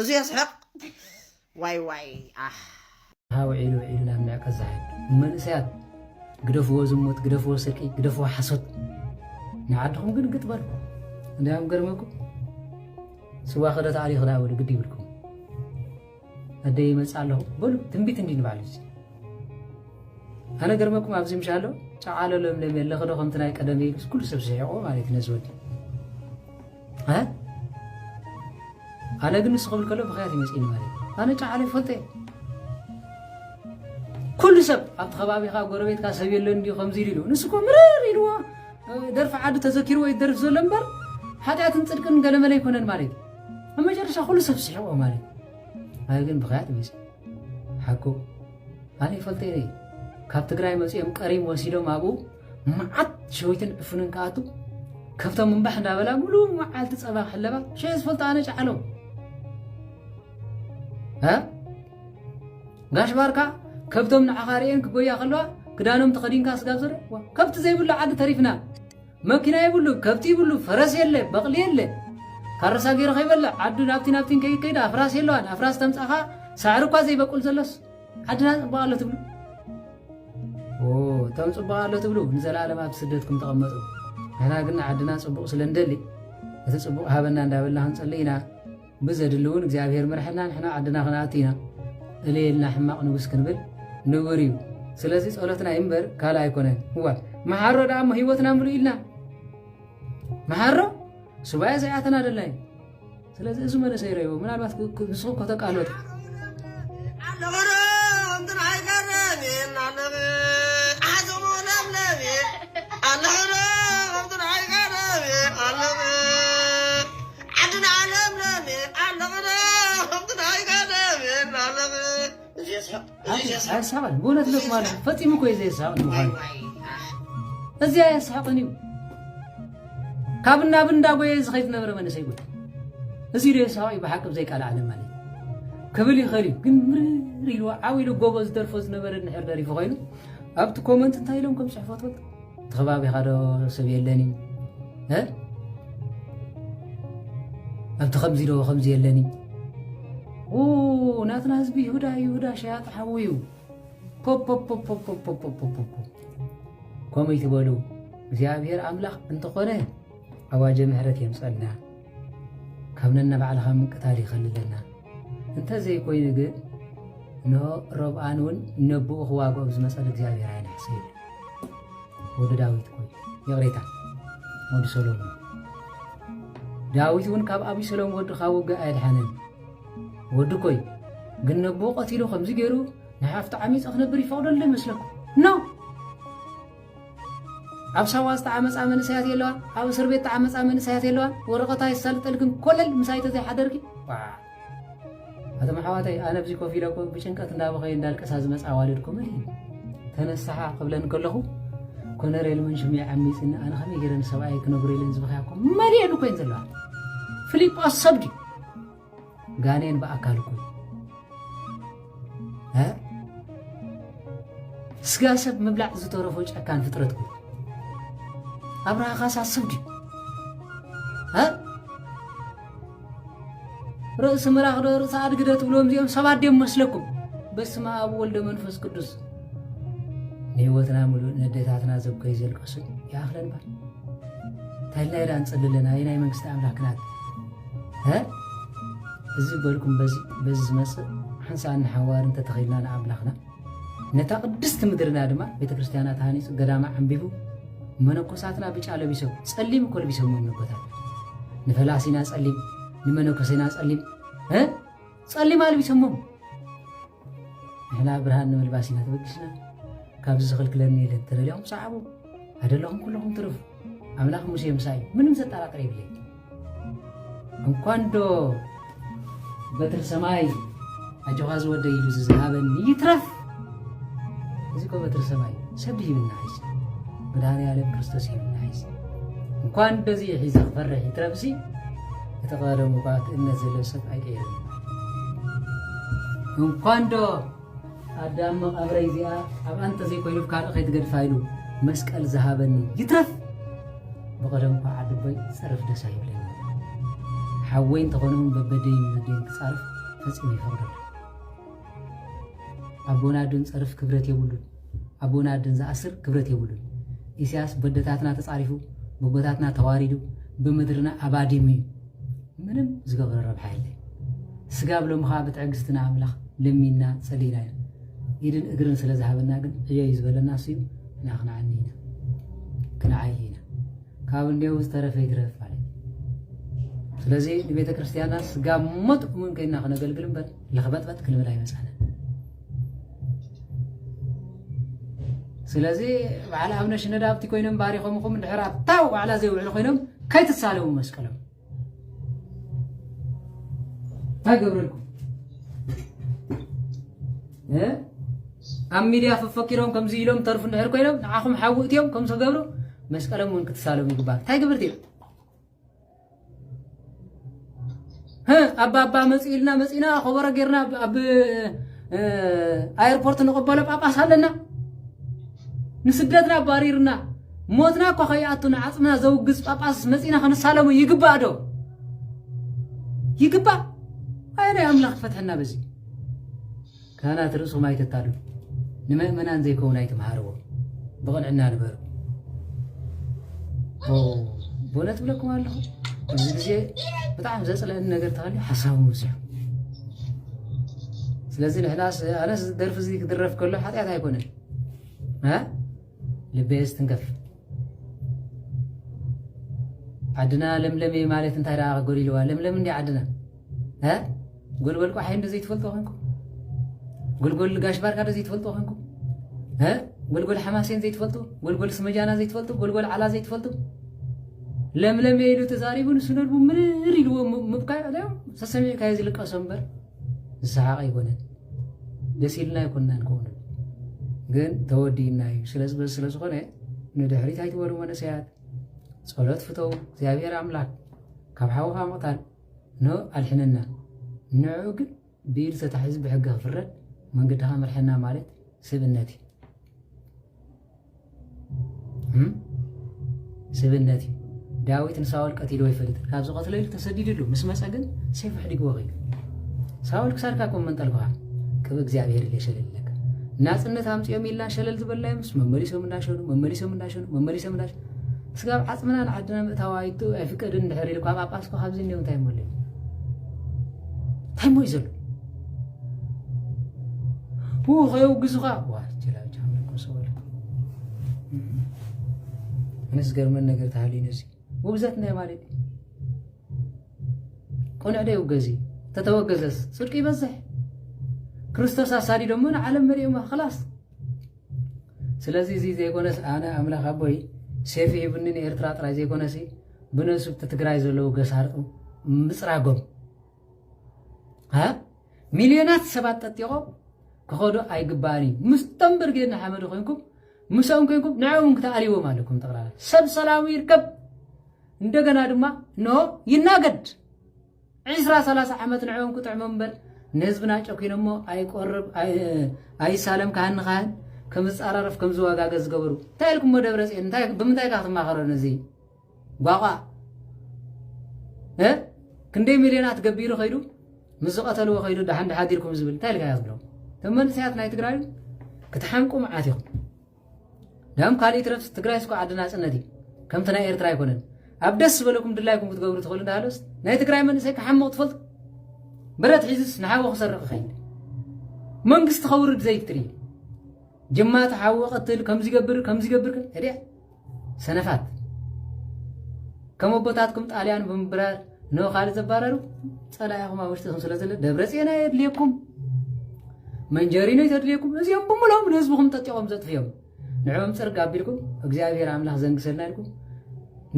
እዙ የስሕቕ ዋይ ዋይ ኣሕ ውዒሉ ውዒሉ ናብ ምዕቀ ዛሕል መንእሰያት ግደፍዎ ዝሙት ግደፍዎ ስርቂ ግደፍዎ ሓሶት ንዓድኹም ግን ግጥ በልኩ እንዲያም ገርመኩም ስዋ ክደ ተኣልዩ ክዳ በሉ ግዲ ይብልኩም ኣደ ይመፅ ኣለኹ በሉ ትንቢት እንዲ ንባዕሉ እዚ ኣነ ገርመኩም ኣብዚ ምሻ ኣሎ ጨዓሎ ለምለም የለ ክዶ ከምቲ ናይ ቀደም ኢሉ ኩሉ ሰብ ስሒቆ ማለት እዩ ነዚ ወዲ ኣነ ግን ንሱ ክብል ከሎ ብክያት ይመፅእኒ ማለት እዩ ኣነ ጫዓለ ይፈልጦ እየ ኩሉ ሰብ ኣብቲ ከባቢኻ ጎረቤትካ ሰብ የለን ድዩ ከምዚ ኢሉ ንሱ እኮ ምርር ኢልዎ ደርፊ ዓዱ ተዘኪርዎ እዩ ደርፊ ዘሎ እምበር ሓጢኣትን ፅድቅን ገለመለ ኣይኮነን ማለት እዩ ኣብ መጨረሻ ኩሉ ሰብ ስሒቆ ማለት እዩ ኣነ ግን ብክያት ይመፅእ ሓቁ ኣነ ይፈልጦ እየ ካብ ትግራይ መፅኦም ቀሪም ወሲዶም ኣብኡ መዓት ሸዊትን ዕፉንን ከኣቱ ከብቶም እምባሕ እንዳበላ ሙሉእ መዓልቲ ፀባ ክሕለባ ሸየ ዝፈልጦ ኣነ ጫዕሎ ጋሽ ባርካ ከብቶም ንዓኻ ርእየን ክጎያ ከለዋ ክዳኖም ተኸዲንካ ስጋብ ዘረ ከብቲ ዘይብሉ ዓዲ ተሪፍና መኪና ይብሉ ከብቲ ይብሉ ፈረስ የለ በቕሊ የለ ካረሳ ገይረ ከይበልዕ ዓዱ ናብቲ ናብቲን ከይከይድ ኣፍራስ የለዋን ኣፍራስ ተምፃኻ ሳዕሪ እኳ ዘይበቁል ዘሎስ ዓድና ፅቡቅ ኣሎ ትብሉ እቶም ፅቡቅ ኣሎ ትብሉ ንዘለኣለም ኣብ ስደትኩም ተቐመጡ ንሕና ግን ዓድና ፅቡቅ ስለ ንደሊ እቲ ፅቡቅ ሃበና እንዳበልና ክንፅሊ ኢና ብዘድሊ እውን እግዚኣብሔር ምርሐና ንሕና ዓድና ክንኣቱ ኢና እልየልና ሕማቅ ንጉስ ክንብል ንቡር እዩ ስለዚ ፀሎትና ይንበር ካልእ ኣይኮነን እዋ መሓሮ ደኣ እሞ ህይወትና ምሉ ኢልና መሓሮ ሱባኤ ዘይኣተና ደላይ ስለዚ እዚ መንእሰይ ረዮ ምናልባት ንስኹም ከተቃለጡ ዓለም ኣይሰሓቕን ብእውነት ሎክ ማለት ፈፂሙ እኮ እዩ ዘየሰሓቕ ንምዃኑ እዚ ኣየሰሓቕን እዩ ካብ ናብ እንዳጎየ ዝኸይድ ዝነበረ መንእሰይ ጉድ እዚ ዶ የሰሓቕ እዩ ብሓቂ ብዘይቃል ዓለም ማለት ክብል ይኽእል እዩ ግን ምርር ኢሉ ዓው ኢሉ ጎቦ ዝደርፎ ዝነበረ ንሕር ደሪፉ ኮይኑ ኣብቲ ኮመንት እንታይ ኢሎም ከም ፅሕፈት እቲ ከባቢኻ ዶ ሰብ የለን እዩ እ ኣብቲ ከምዚ ዶ ከምዚ የለን እዩ ኡ ናትና ህዝቢ ይሁዳ ይሁዳ ሸያጢ ሓዉ እዩ ፖፖፖፖፖፖፖፖፖ ከምኡ ይትበሉ እግዚኣብሔር ኣምላኽ እንተኾነ ኣዋጀ ምሕረት የምፀልና ካብ ነናባዕልኻ ምቅታል ይኸልለና እንተ ዘይኮይኑ ግን እንሆ ሮብኣን እውን ነብኡ ክዋግኦ ዝመጸሉ እግዚኣብሔር ኣይነግሰ ይብል ወዲ ዳዊት ኮይ ይቕሬታ ወዲ ሰሎሞን ዳዊት እውን ካብ ኣቢሰሎም ወዱ ካብ ውግእ ኣየድሓነን ወዲ ኮይ ግን ነብኡ ቀቲሉ ከምዚ ገይሩ ንሓፍቲ ዓሚፀ ክነብር ይፈቕደሉ ይመስለኩም ኖ ኣብ ሳዋ ዝተዓመጻ መንእሰያት የለዋን ኣብ እስርቤት ተዓመጻ መንእሰያት የለዋን ወረቐታ የሳልጠል ግን ኮለል ምሳይ ተዘይሓደርኪ ዋዕ ኣቶም ኣሕዋተይ ኣነ ብዚ ኮፍ ኢለ እኮ ብጭንቀት እንዳበኸየ እንዳልቀሳ ዝመጽ ኣዋልድኩምን እዩ ተነሳሓ ክብለን ከለኹ ኮነሬል መንሽም እየ ዓሚፅኒ ኣነ ከመይ ገይረ ንሰብኣየ ክነግሮ ኢለን ዝበኸያ እኮ መሊኤን ኮይን ዘለዋ ፍሊጶስ ሰብ ድዩ ጋኔን ብኣካል እኮ እ ስጋ ሰብ ምብላዕ ዝተረፎ ጨካን ፍጥረት እኮ ኣብርሃ ካሳ ስብ ድዩ እ ርእሲ ምራኽ ዶ ርእሲ ኣድጊ ዶ ትብልዎም እዚኦም ሰባት ድዮም መስለኩም በስመ ኣብ ወልደ መንፈስ ቅዱስ ንህይወትና ሙሉእ ንዴታትና ዘብከይ ዘልቀሱ ይኣኽለን ባል እንታይ ኢልና ኢና ንፅሊ ኣለና ኣየናይ መንግስቲ ኣምላክ ናት እዚ በልኩም በዚ በዚ ዝመጽእ ሓንሳእን ንሓዋርን ተተኺልና ንኣምላኽና ነታ ቅድስቲ ምድርና ድማ ቤተ ክርስቲያና ተሃኒፁ ገዳማ ዓንቢቡ መነኮሳትና ብጫ ለቢሶም ጸሊም እኮ ለቢሶም መነኮታት ንፈላሲና ጸሊም ንመነኮሴና ጸሊም ጸሊም ኣልቢሶሞም ንሕና ብርሃን ንምልባስ ኢና ተበጊስና ካብዚ ዝኽልክለኒ የለን ተደልኹም ሰዓቡ ኣደለኹም ኩለኹም ትርፍ ኣምላኽ ሙሴ ምሳይ ምንም ዘጠራጥር የብለይ እንኳን ዶ በትር ሰማይ ኣጆኻ ዝወደ ኢሉ ዝዝሃበኒ ይትረፍ እዚ ኮ በትር ሰማይ ሰብ ሂብና ይስ መድሃኒ ዓለም ክርስቶስ ሂብና ይስ እንኳን በዚ ሒዘ ክፈርሕ ይትረፍሲ እቲ ቀደሙ እኳ እቲ እምነት ዘለዎ ሰብ ኣይቀየርን እንኳን ዶ ኣዳም መቓብረይ እዚኣ ኣብኣ እንተዘይኮይኑ ካልእ ከይትገድፋ ኢሉ መስቀል ዝሃበኒ ይትረፍ ብቐደም እኳ ዓድቦይ ጸርፍ ደስ ኣይብለኒ ሓወይ እንተኾነውን በበደይን መደይን ክጻርፍ ፈጺሙ ይፈቕደሉ ኣቦና ዶን ጸርፍ ክብረት የብሉን ኣቦን ኣደን ዝኣስር ክብረት የብሉን ኢሰያስ በደታትና ተጻሪፉ ብቦታትና ተዋሪዱ ብምድርና ኣባዲሙ እዩ ምንም ዝገብረ ረብሓ የለ ስጋብ ሎሚ ከዓ ብትዕግስቲ ንኣምላኽ ለሚንና ጸሊና ኢና ኢድን እግርን ስለ ዝሃበና ግን ዕዮ እዩ ዝበለና እሱ እዩ እና ክንዓኒ ኢና ክንዓይ ኢና ካብ እንዲው ዝተረፈ ይትረፍ ማለት ስለዚ ንቤተ ክርስቲያንና ስጋ ሞት እውን ከይና ክነገልግል እምበር ለኽበጥበጥ ክንብል ኣይመጻእናን ስለዚ በዓል ኣብነ ሽነዳብቲ ኮይኖም ባሪኾምኹም ድሕር ኣብታው ዋዕላ ዘይውዕሉ ኮይኖም ከይትሳለሙ መስቀሎም እንታይ ገብረልኩም ኣብ ሚድያ ፈፈኪሮም ከምዚ ኢሎም ተርፉ እንድሕር ኮይኖም ንዓኹም ሓዊ እትዮም ከም ዝገብሩ መስቀሎም እውን ክትሳለሙ ይግባእ እንታይ ግብርቲ እዮም ኣባባ መፅኡ ኢልና መፂና ኮበሮ ጌርና ኣብ ኣየርፖርት ንቕበሎ ጳጳስ ኣለና ንስደትና ኣባሪርና ሞትና እኳ ከይኣቱና ዓፅምና ዘውግዝ ጳጳስ መፂና ክንሳለሙ ይግባእ ዶ ይግባእ ኣየናይ ኣምላኽ ፈትሐና በዚ ካህናት ርእስኹም ኣይተታልሉ ንመእመናን ዘይከውን ኣይትምሃርዎ ብቕንዕና ንበሩ በእውነት ብለኩም ኣለኹ ኣብዚ ግዜ ብጣዕሚ ዘፅለአኒ ነገር ተሃልዩ ሓሳቡ ምብዝሑ ስለዚ ንሕናስ ኣነስ ደርፊ እዚ ክድረፍ ከሎ ሓጢኣት ኣይኮነን ልበየስ ትንከፍ ዓድና ለምለም እየ ማለት እንታይ ደኣ ጎዲልዋ ለምለም እንዲ ዓድና እ ጎልጎል ቋሓይ እንዶ ዘይትፈልጡ ኮንኩም ጎልጎል ጋሽ ባርካ ዶ ዘይትፈልጡ ኮንኩም እ ጎልጎል ሓማሴን ዘይትፈልጡ ጎልጎል ስመጃና ዘይትፈልጡ ጎልጎል ዓላ ዘይትፈልጡ ለምለም እየ ኢሉ ተዛሪቡ ንሱ ነልቡ ምርር ኢልዎ ምብካይ ዕለዮም ሰሰሚዕካዮ ዝልቀሶ እምበር ዝሰሓቕ ኣይኮነን ደስ ኢልና ኣይኮናን ከምኡ ንብል ግን ተወዲእና እዩ ስለዝበል ስለ ዝኾነ ንድሕሪት ኣይትበሉ መንእሰያት ጸሎት ፍተው እግዚኣብሔር ኣምላክ ካብ ሓውኻ ምቕታል ን ኣድሕነና ንዕኡ ግን ብኢድ ተታሒዙ ብሕጊ ክፍረድ መንገድኻ ምርሐና ማለት ስብእነት እዩ ስብነት እዩ ዳዊት ንሳኦል ቀቲሉ ይፈልጥ ካብ ዝቐትለ ኢሉ ተሰዲድሉ ምስ መፀ ግን ሴፍ ሕዲግዎ ኸይዱ ሳኦል ክሳድካ ኮም መንጠልኩኻ ቅብ እግዚኣብሔር ኢለ ሸለለካ ናፅነት ኣምፅኦም ኢልና ሸለል ዝበልናዮም ምስ መመሊሶም እንዳሸኑ መመሊሶም እንዳሸኑ መመሊሶም እንዳሸኑ ስጋብ ዓፅምና ንዓድና ምእታው ኣይቱ ኣይፍቀድን ድሕር ኢሉ ካብ ኣጳስኮ ካብዚ እኒኦ እንታይ ሞለ እንታይ ሞይ ዘሎ ፑ ከየውግዙኻ ኣነስ ገርመን ነገር ተሃልዩ ነዚ ውግዘት እንታይ ማለት እዩ ቁንዕ ደ ይውገዝ እዩ ተተወገዘስ ፅድቂ ይበዝሕ ክርስቶስ ኣሳዲዶ እሞ ንዓለም መሪኦማ ክላስ ስለዚ እዚ ዘይኮነስ ኣነ ኣምላኽ ኣቦይ ሴፊ ሂቡኒ ንኤርትራ ጥራይ ዘይኮነሲ ብነሱብቲ ትግራይ ዘለዉ ገሳርጡ ምፅራጎም ሚልዮናት ሰባት ጠጢቖም ክኸዱ ኣይግባእን እዩ ምስቶም ብርጌድ ንሓመዱ ኮንኩም ምስኦም ኮንኩም ንዕኦም ክትኣልዎም ኣለኩም ጠቕላላ ሰብ ሰላሙ ይርከብ እንደገና ድማ እንሆ ይናገድ ዕስራ ሰላሳ ዓመት ንዕኦም ክጥዕሞም እምበር ንህዝብና ጨኪኖሞ ኣይቆርብ ኣይሳለም ካህን ንካህን ከምዝፃራረፍ ከምዝዋጋገ ዝገበሩ እንታይ ኢልኩሞ ደብረ ፅዮን ብምንታይ ካ ክትማኸሮ ነዚ ባቋዕ ክንደይ ሚልዮናት ገቢሩ ከይዱ ምስ ዝቐተልዎ ከይዱ ድሓን ድሓዲርኩም ዝብል እንታይ ኢልካ ዝብሎም እቶም መንእሰያት ናይ ትግራይ ክትሓንቁ መዓት ኢኹም ዳም ካልእ ትረፍ ትግራይ ስኳ ዓዲ ናፅነት እዩ ከምቲ ናይ ኤርትራ ኣይኮነን ኣብ ደስ ዝበለኩም ድላይኩም ክትገብሩ ትኽእሉ እንዳሃለስ ናይ ትግራይ መንእሰይ ክሓምቕ ትፈልጡ ብረት ሒዝስ ንሓወ ክሰርቕ ይኸይድ መንግስቲ ከውርድ ዘይትርኢ ጅማ ተሓወ ቀትል ከምዚ ገብር ከምዚ ገብር እድያ ሰነፋት ከም ኣቦታትኩም ጣልያን ብምብራር ን ካልእ ዘባረሩ ጸላኢኹም ኣብ ውሽጥኹም ስለ ዘሎ ደብረጽዮን ኣየድልየኩም መንጀሪኖ እዩ ዘድልየኩም እዚኦም ብምሎም ንህዝብኹም ጠጢቖም ዘጥፍዮም ንዕኦም ጽርግ ኣቢልኩም እግዚኣብሔር ኣምላኽ ዘንግሰልና ኢልኩም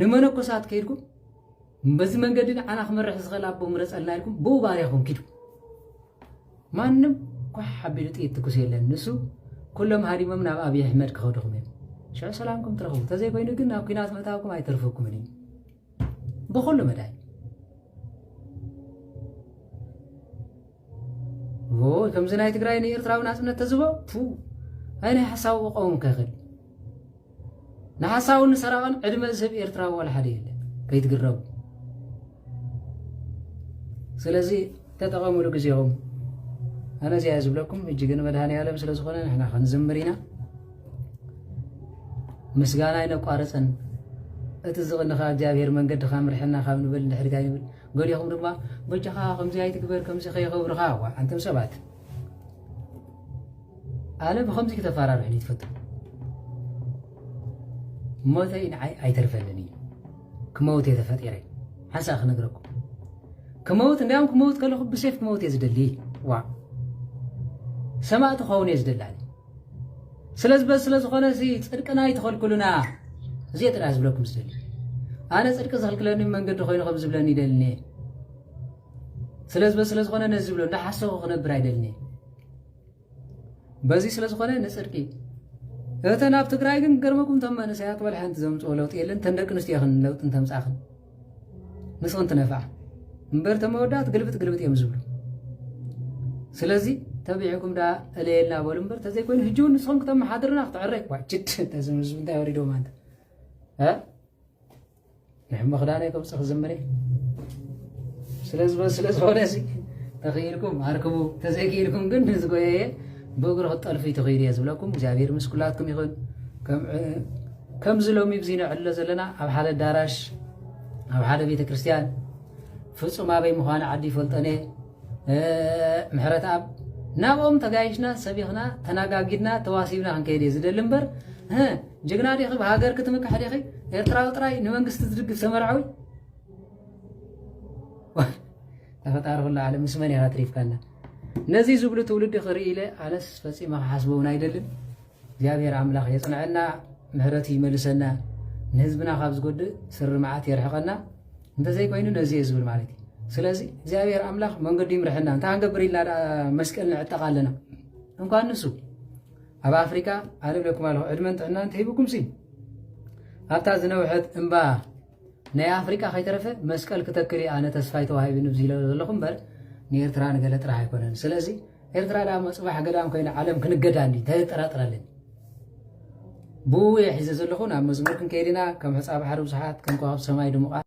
ንመነኮሳት ከይድኩም በዚ መንገዲ ንዓና ክመርሕ ዝኽእል ኣቦ ምረጸልና ኢልኩም ብኡ ባርያኹም ኪዱ ማንም ኳሕ ኣቢሉ ጥይት ትኩስ የለን ንሱ ኩሎም ሃዲሞም ናብ ኣብይ ኣሕመድ ክኸዱኹም እዮም ሽዑ ሰላምኩም ትረኽቡ ተዘይኮይኑ ግን ናብ ኩናት ምእታውኩም ኣይተርፈኩምን እዩ ብኩሉ መዳይ ከምዚ ናይ ትግራይ ንኤርትራዊ ናፅነት ተዝቦ ኣይ ናይ ሓሳቡ ቆሙ ከኽል ንሓሳውን ንሰራቕን ዕድመ ዝህብ ኤርትራዊ ዋላ ሓደ የለን ከይትግረቡ ስለዚ ተጠቐምሉ ግዜኹም ኣነ እዚኣ ዝብለኩም ሕጂ ግን መድሃኒ ዓለም ስለ ዝኾነ ንሕና ክንዝምር ኢና ምስጋና ኣይነቋርፅን እቲ ዝቕንኻ እግዚኣብሄር መንገድኻ ምርሕና ካብ ንብል ንድሕሪታ ይብል ገሊኹም ድማ በጃኻ ከምዚ ኣይትግበር ከምዚ ከይኸብርኻ ዋዓንቶም ሰባት ኣነ ብከምዚ ክተፈራርሑኒ ትፈቱ ሞተይ ንዓይ ኣይተርፈንን እዩ ክመውት እየ ተፈጢረ ሓንሳእ ክነግረኩም ክመውት እንዲያውም ክመውት ከለኹ ብሴፍ ክመውት እየ ዝደሊ ዋ ሰማእቲ ክኸውን እየ ዝደላኒ ስለዚ በዚ ስለ ዝኾነ ፅድቅና ይትኸልክሉና እዚየ ጥራሕ ዝብለኩም ዝደሊ ኣነ ፅድቂ ዝኽልክለኒ መንገዲ ኮይኑ ከም ዝብለኒ ይደልኒ እየ ስለዝበ ስለዝኾነ ነዚ ዝብሎ እንዳሓሰኹ ክነብር ኣይደልን እየ በዚ ስለዝኾነ ንፅድቂ እተን ኣብ ትግራይ ግን ገርመኩም እቶም መንእሰያት ወላ ሓንቲ ዘምፅኦ ለውጢ የለን እተን ደቂ ኣንስትዮ ይኽን ለውጢ እንተምፃኽን ንስኽን ትነፍዓ እምበር እተን መወዳእት ግልብጥ ግልብጥ እዮም ዝብሉ ስለዚ ተቢዕኩም ዳ እለየልና በሉ እምበር ተዘይኮይኑ ሕጂ እውን ንስኹም ክተመሓድርና ክተዕረ እኳ ችድ ተዝምዝብ እንታይ ወሪዶም ኣንተ ንሕመኽ ዳኣ ናይ ቅብጽ ክዝምር እየ ስለ ዝኾነ ሲ ተኽኢልኩም ኣርክቡ ተዘይክኢልኩም ግን ንዝጎየየ ብእግሪ ክጠልፉ ይትኽኢሉ እየ ዝብለኩም እግዚኣብሔር ምስ ኩላትኩም ይኹን ከምዚ ሎሚ ብዚ ንዕሎ ዘለና ኣብ ሓደ ኣዳራሽ ኣብ ሓደ ቤተ ክርስቲያን ፍጹም ኣበይ ምዃኑ ዓዲ ይፈልጠን እየ ምሕረትኣብ ናብኦም ተጋይሽና ሰቢኽና ተናጋጊድና ተዋሲብና ክንከይድ እየ ዝደሊ እምበር ህ ጅግና ዲኺ ብሃገር ክትምክሕ ዲኺ ኤርትራዊ ጥራይ ንመንግስቲ ዝድግፍ ተመርዓዊ ተፈጣሪ ኩሉ ዓለም ምስ መን ኢኻ ኣትሪፍካና ነዚ ዝብሉ ትውልዲ ክርኢ ኢለ ኣነስ ፈፂመ ክሓስቦ እውን ኣይደልን እግዚኣብሔር ኣምላክ የፅንዐና ምሕረቱ ይመልሰና ንህዝብና ካብ ዝጎድእ ስሪ መዓት የርሕቀና እንተዘይኮይኑ ነዚ እየ ዝብል ማለት እዩ ስለዚ እግዚኣብሔር ኣምላክ መንገዱ ይምርሐና እንታይ ክንገብር ኢልና ደኣ መስቀል ንዕጠቃ ኣለና እንኳን ንሱ ኣብ ኣፍሪካ ኣለም ለኩም ኣለኹ ዕድመን ጥዕናን ተሂብኩም ሲ ኣብታ ዝነውሐት እምባ ናይ ኣፍሪቃ ከይተረፈ መስቀል ክተክል እየ ኣነ ተስፋይ ተዋሂብኒ ብዝለ ዘለኹ እምበር ንኤርትራ ንገለ ጥራሕ ኣይኮነን ስለዚ ኤርትራ ዳሞ ጽባሕ ገዳም ኮይና ዓለም ክንገዳ እንዲ እንታይ ዘጠራጥረለኒ ብኡ እየ ሒዘ ዘለኹ ናብ መዝሙር ክንከይድ ኢና ከም ሕፃ ባሕሪ ብዙሓት ከም ከዋብ ሰማይ ድሙቓት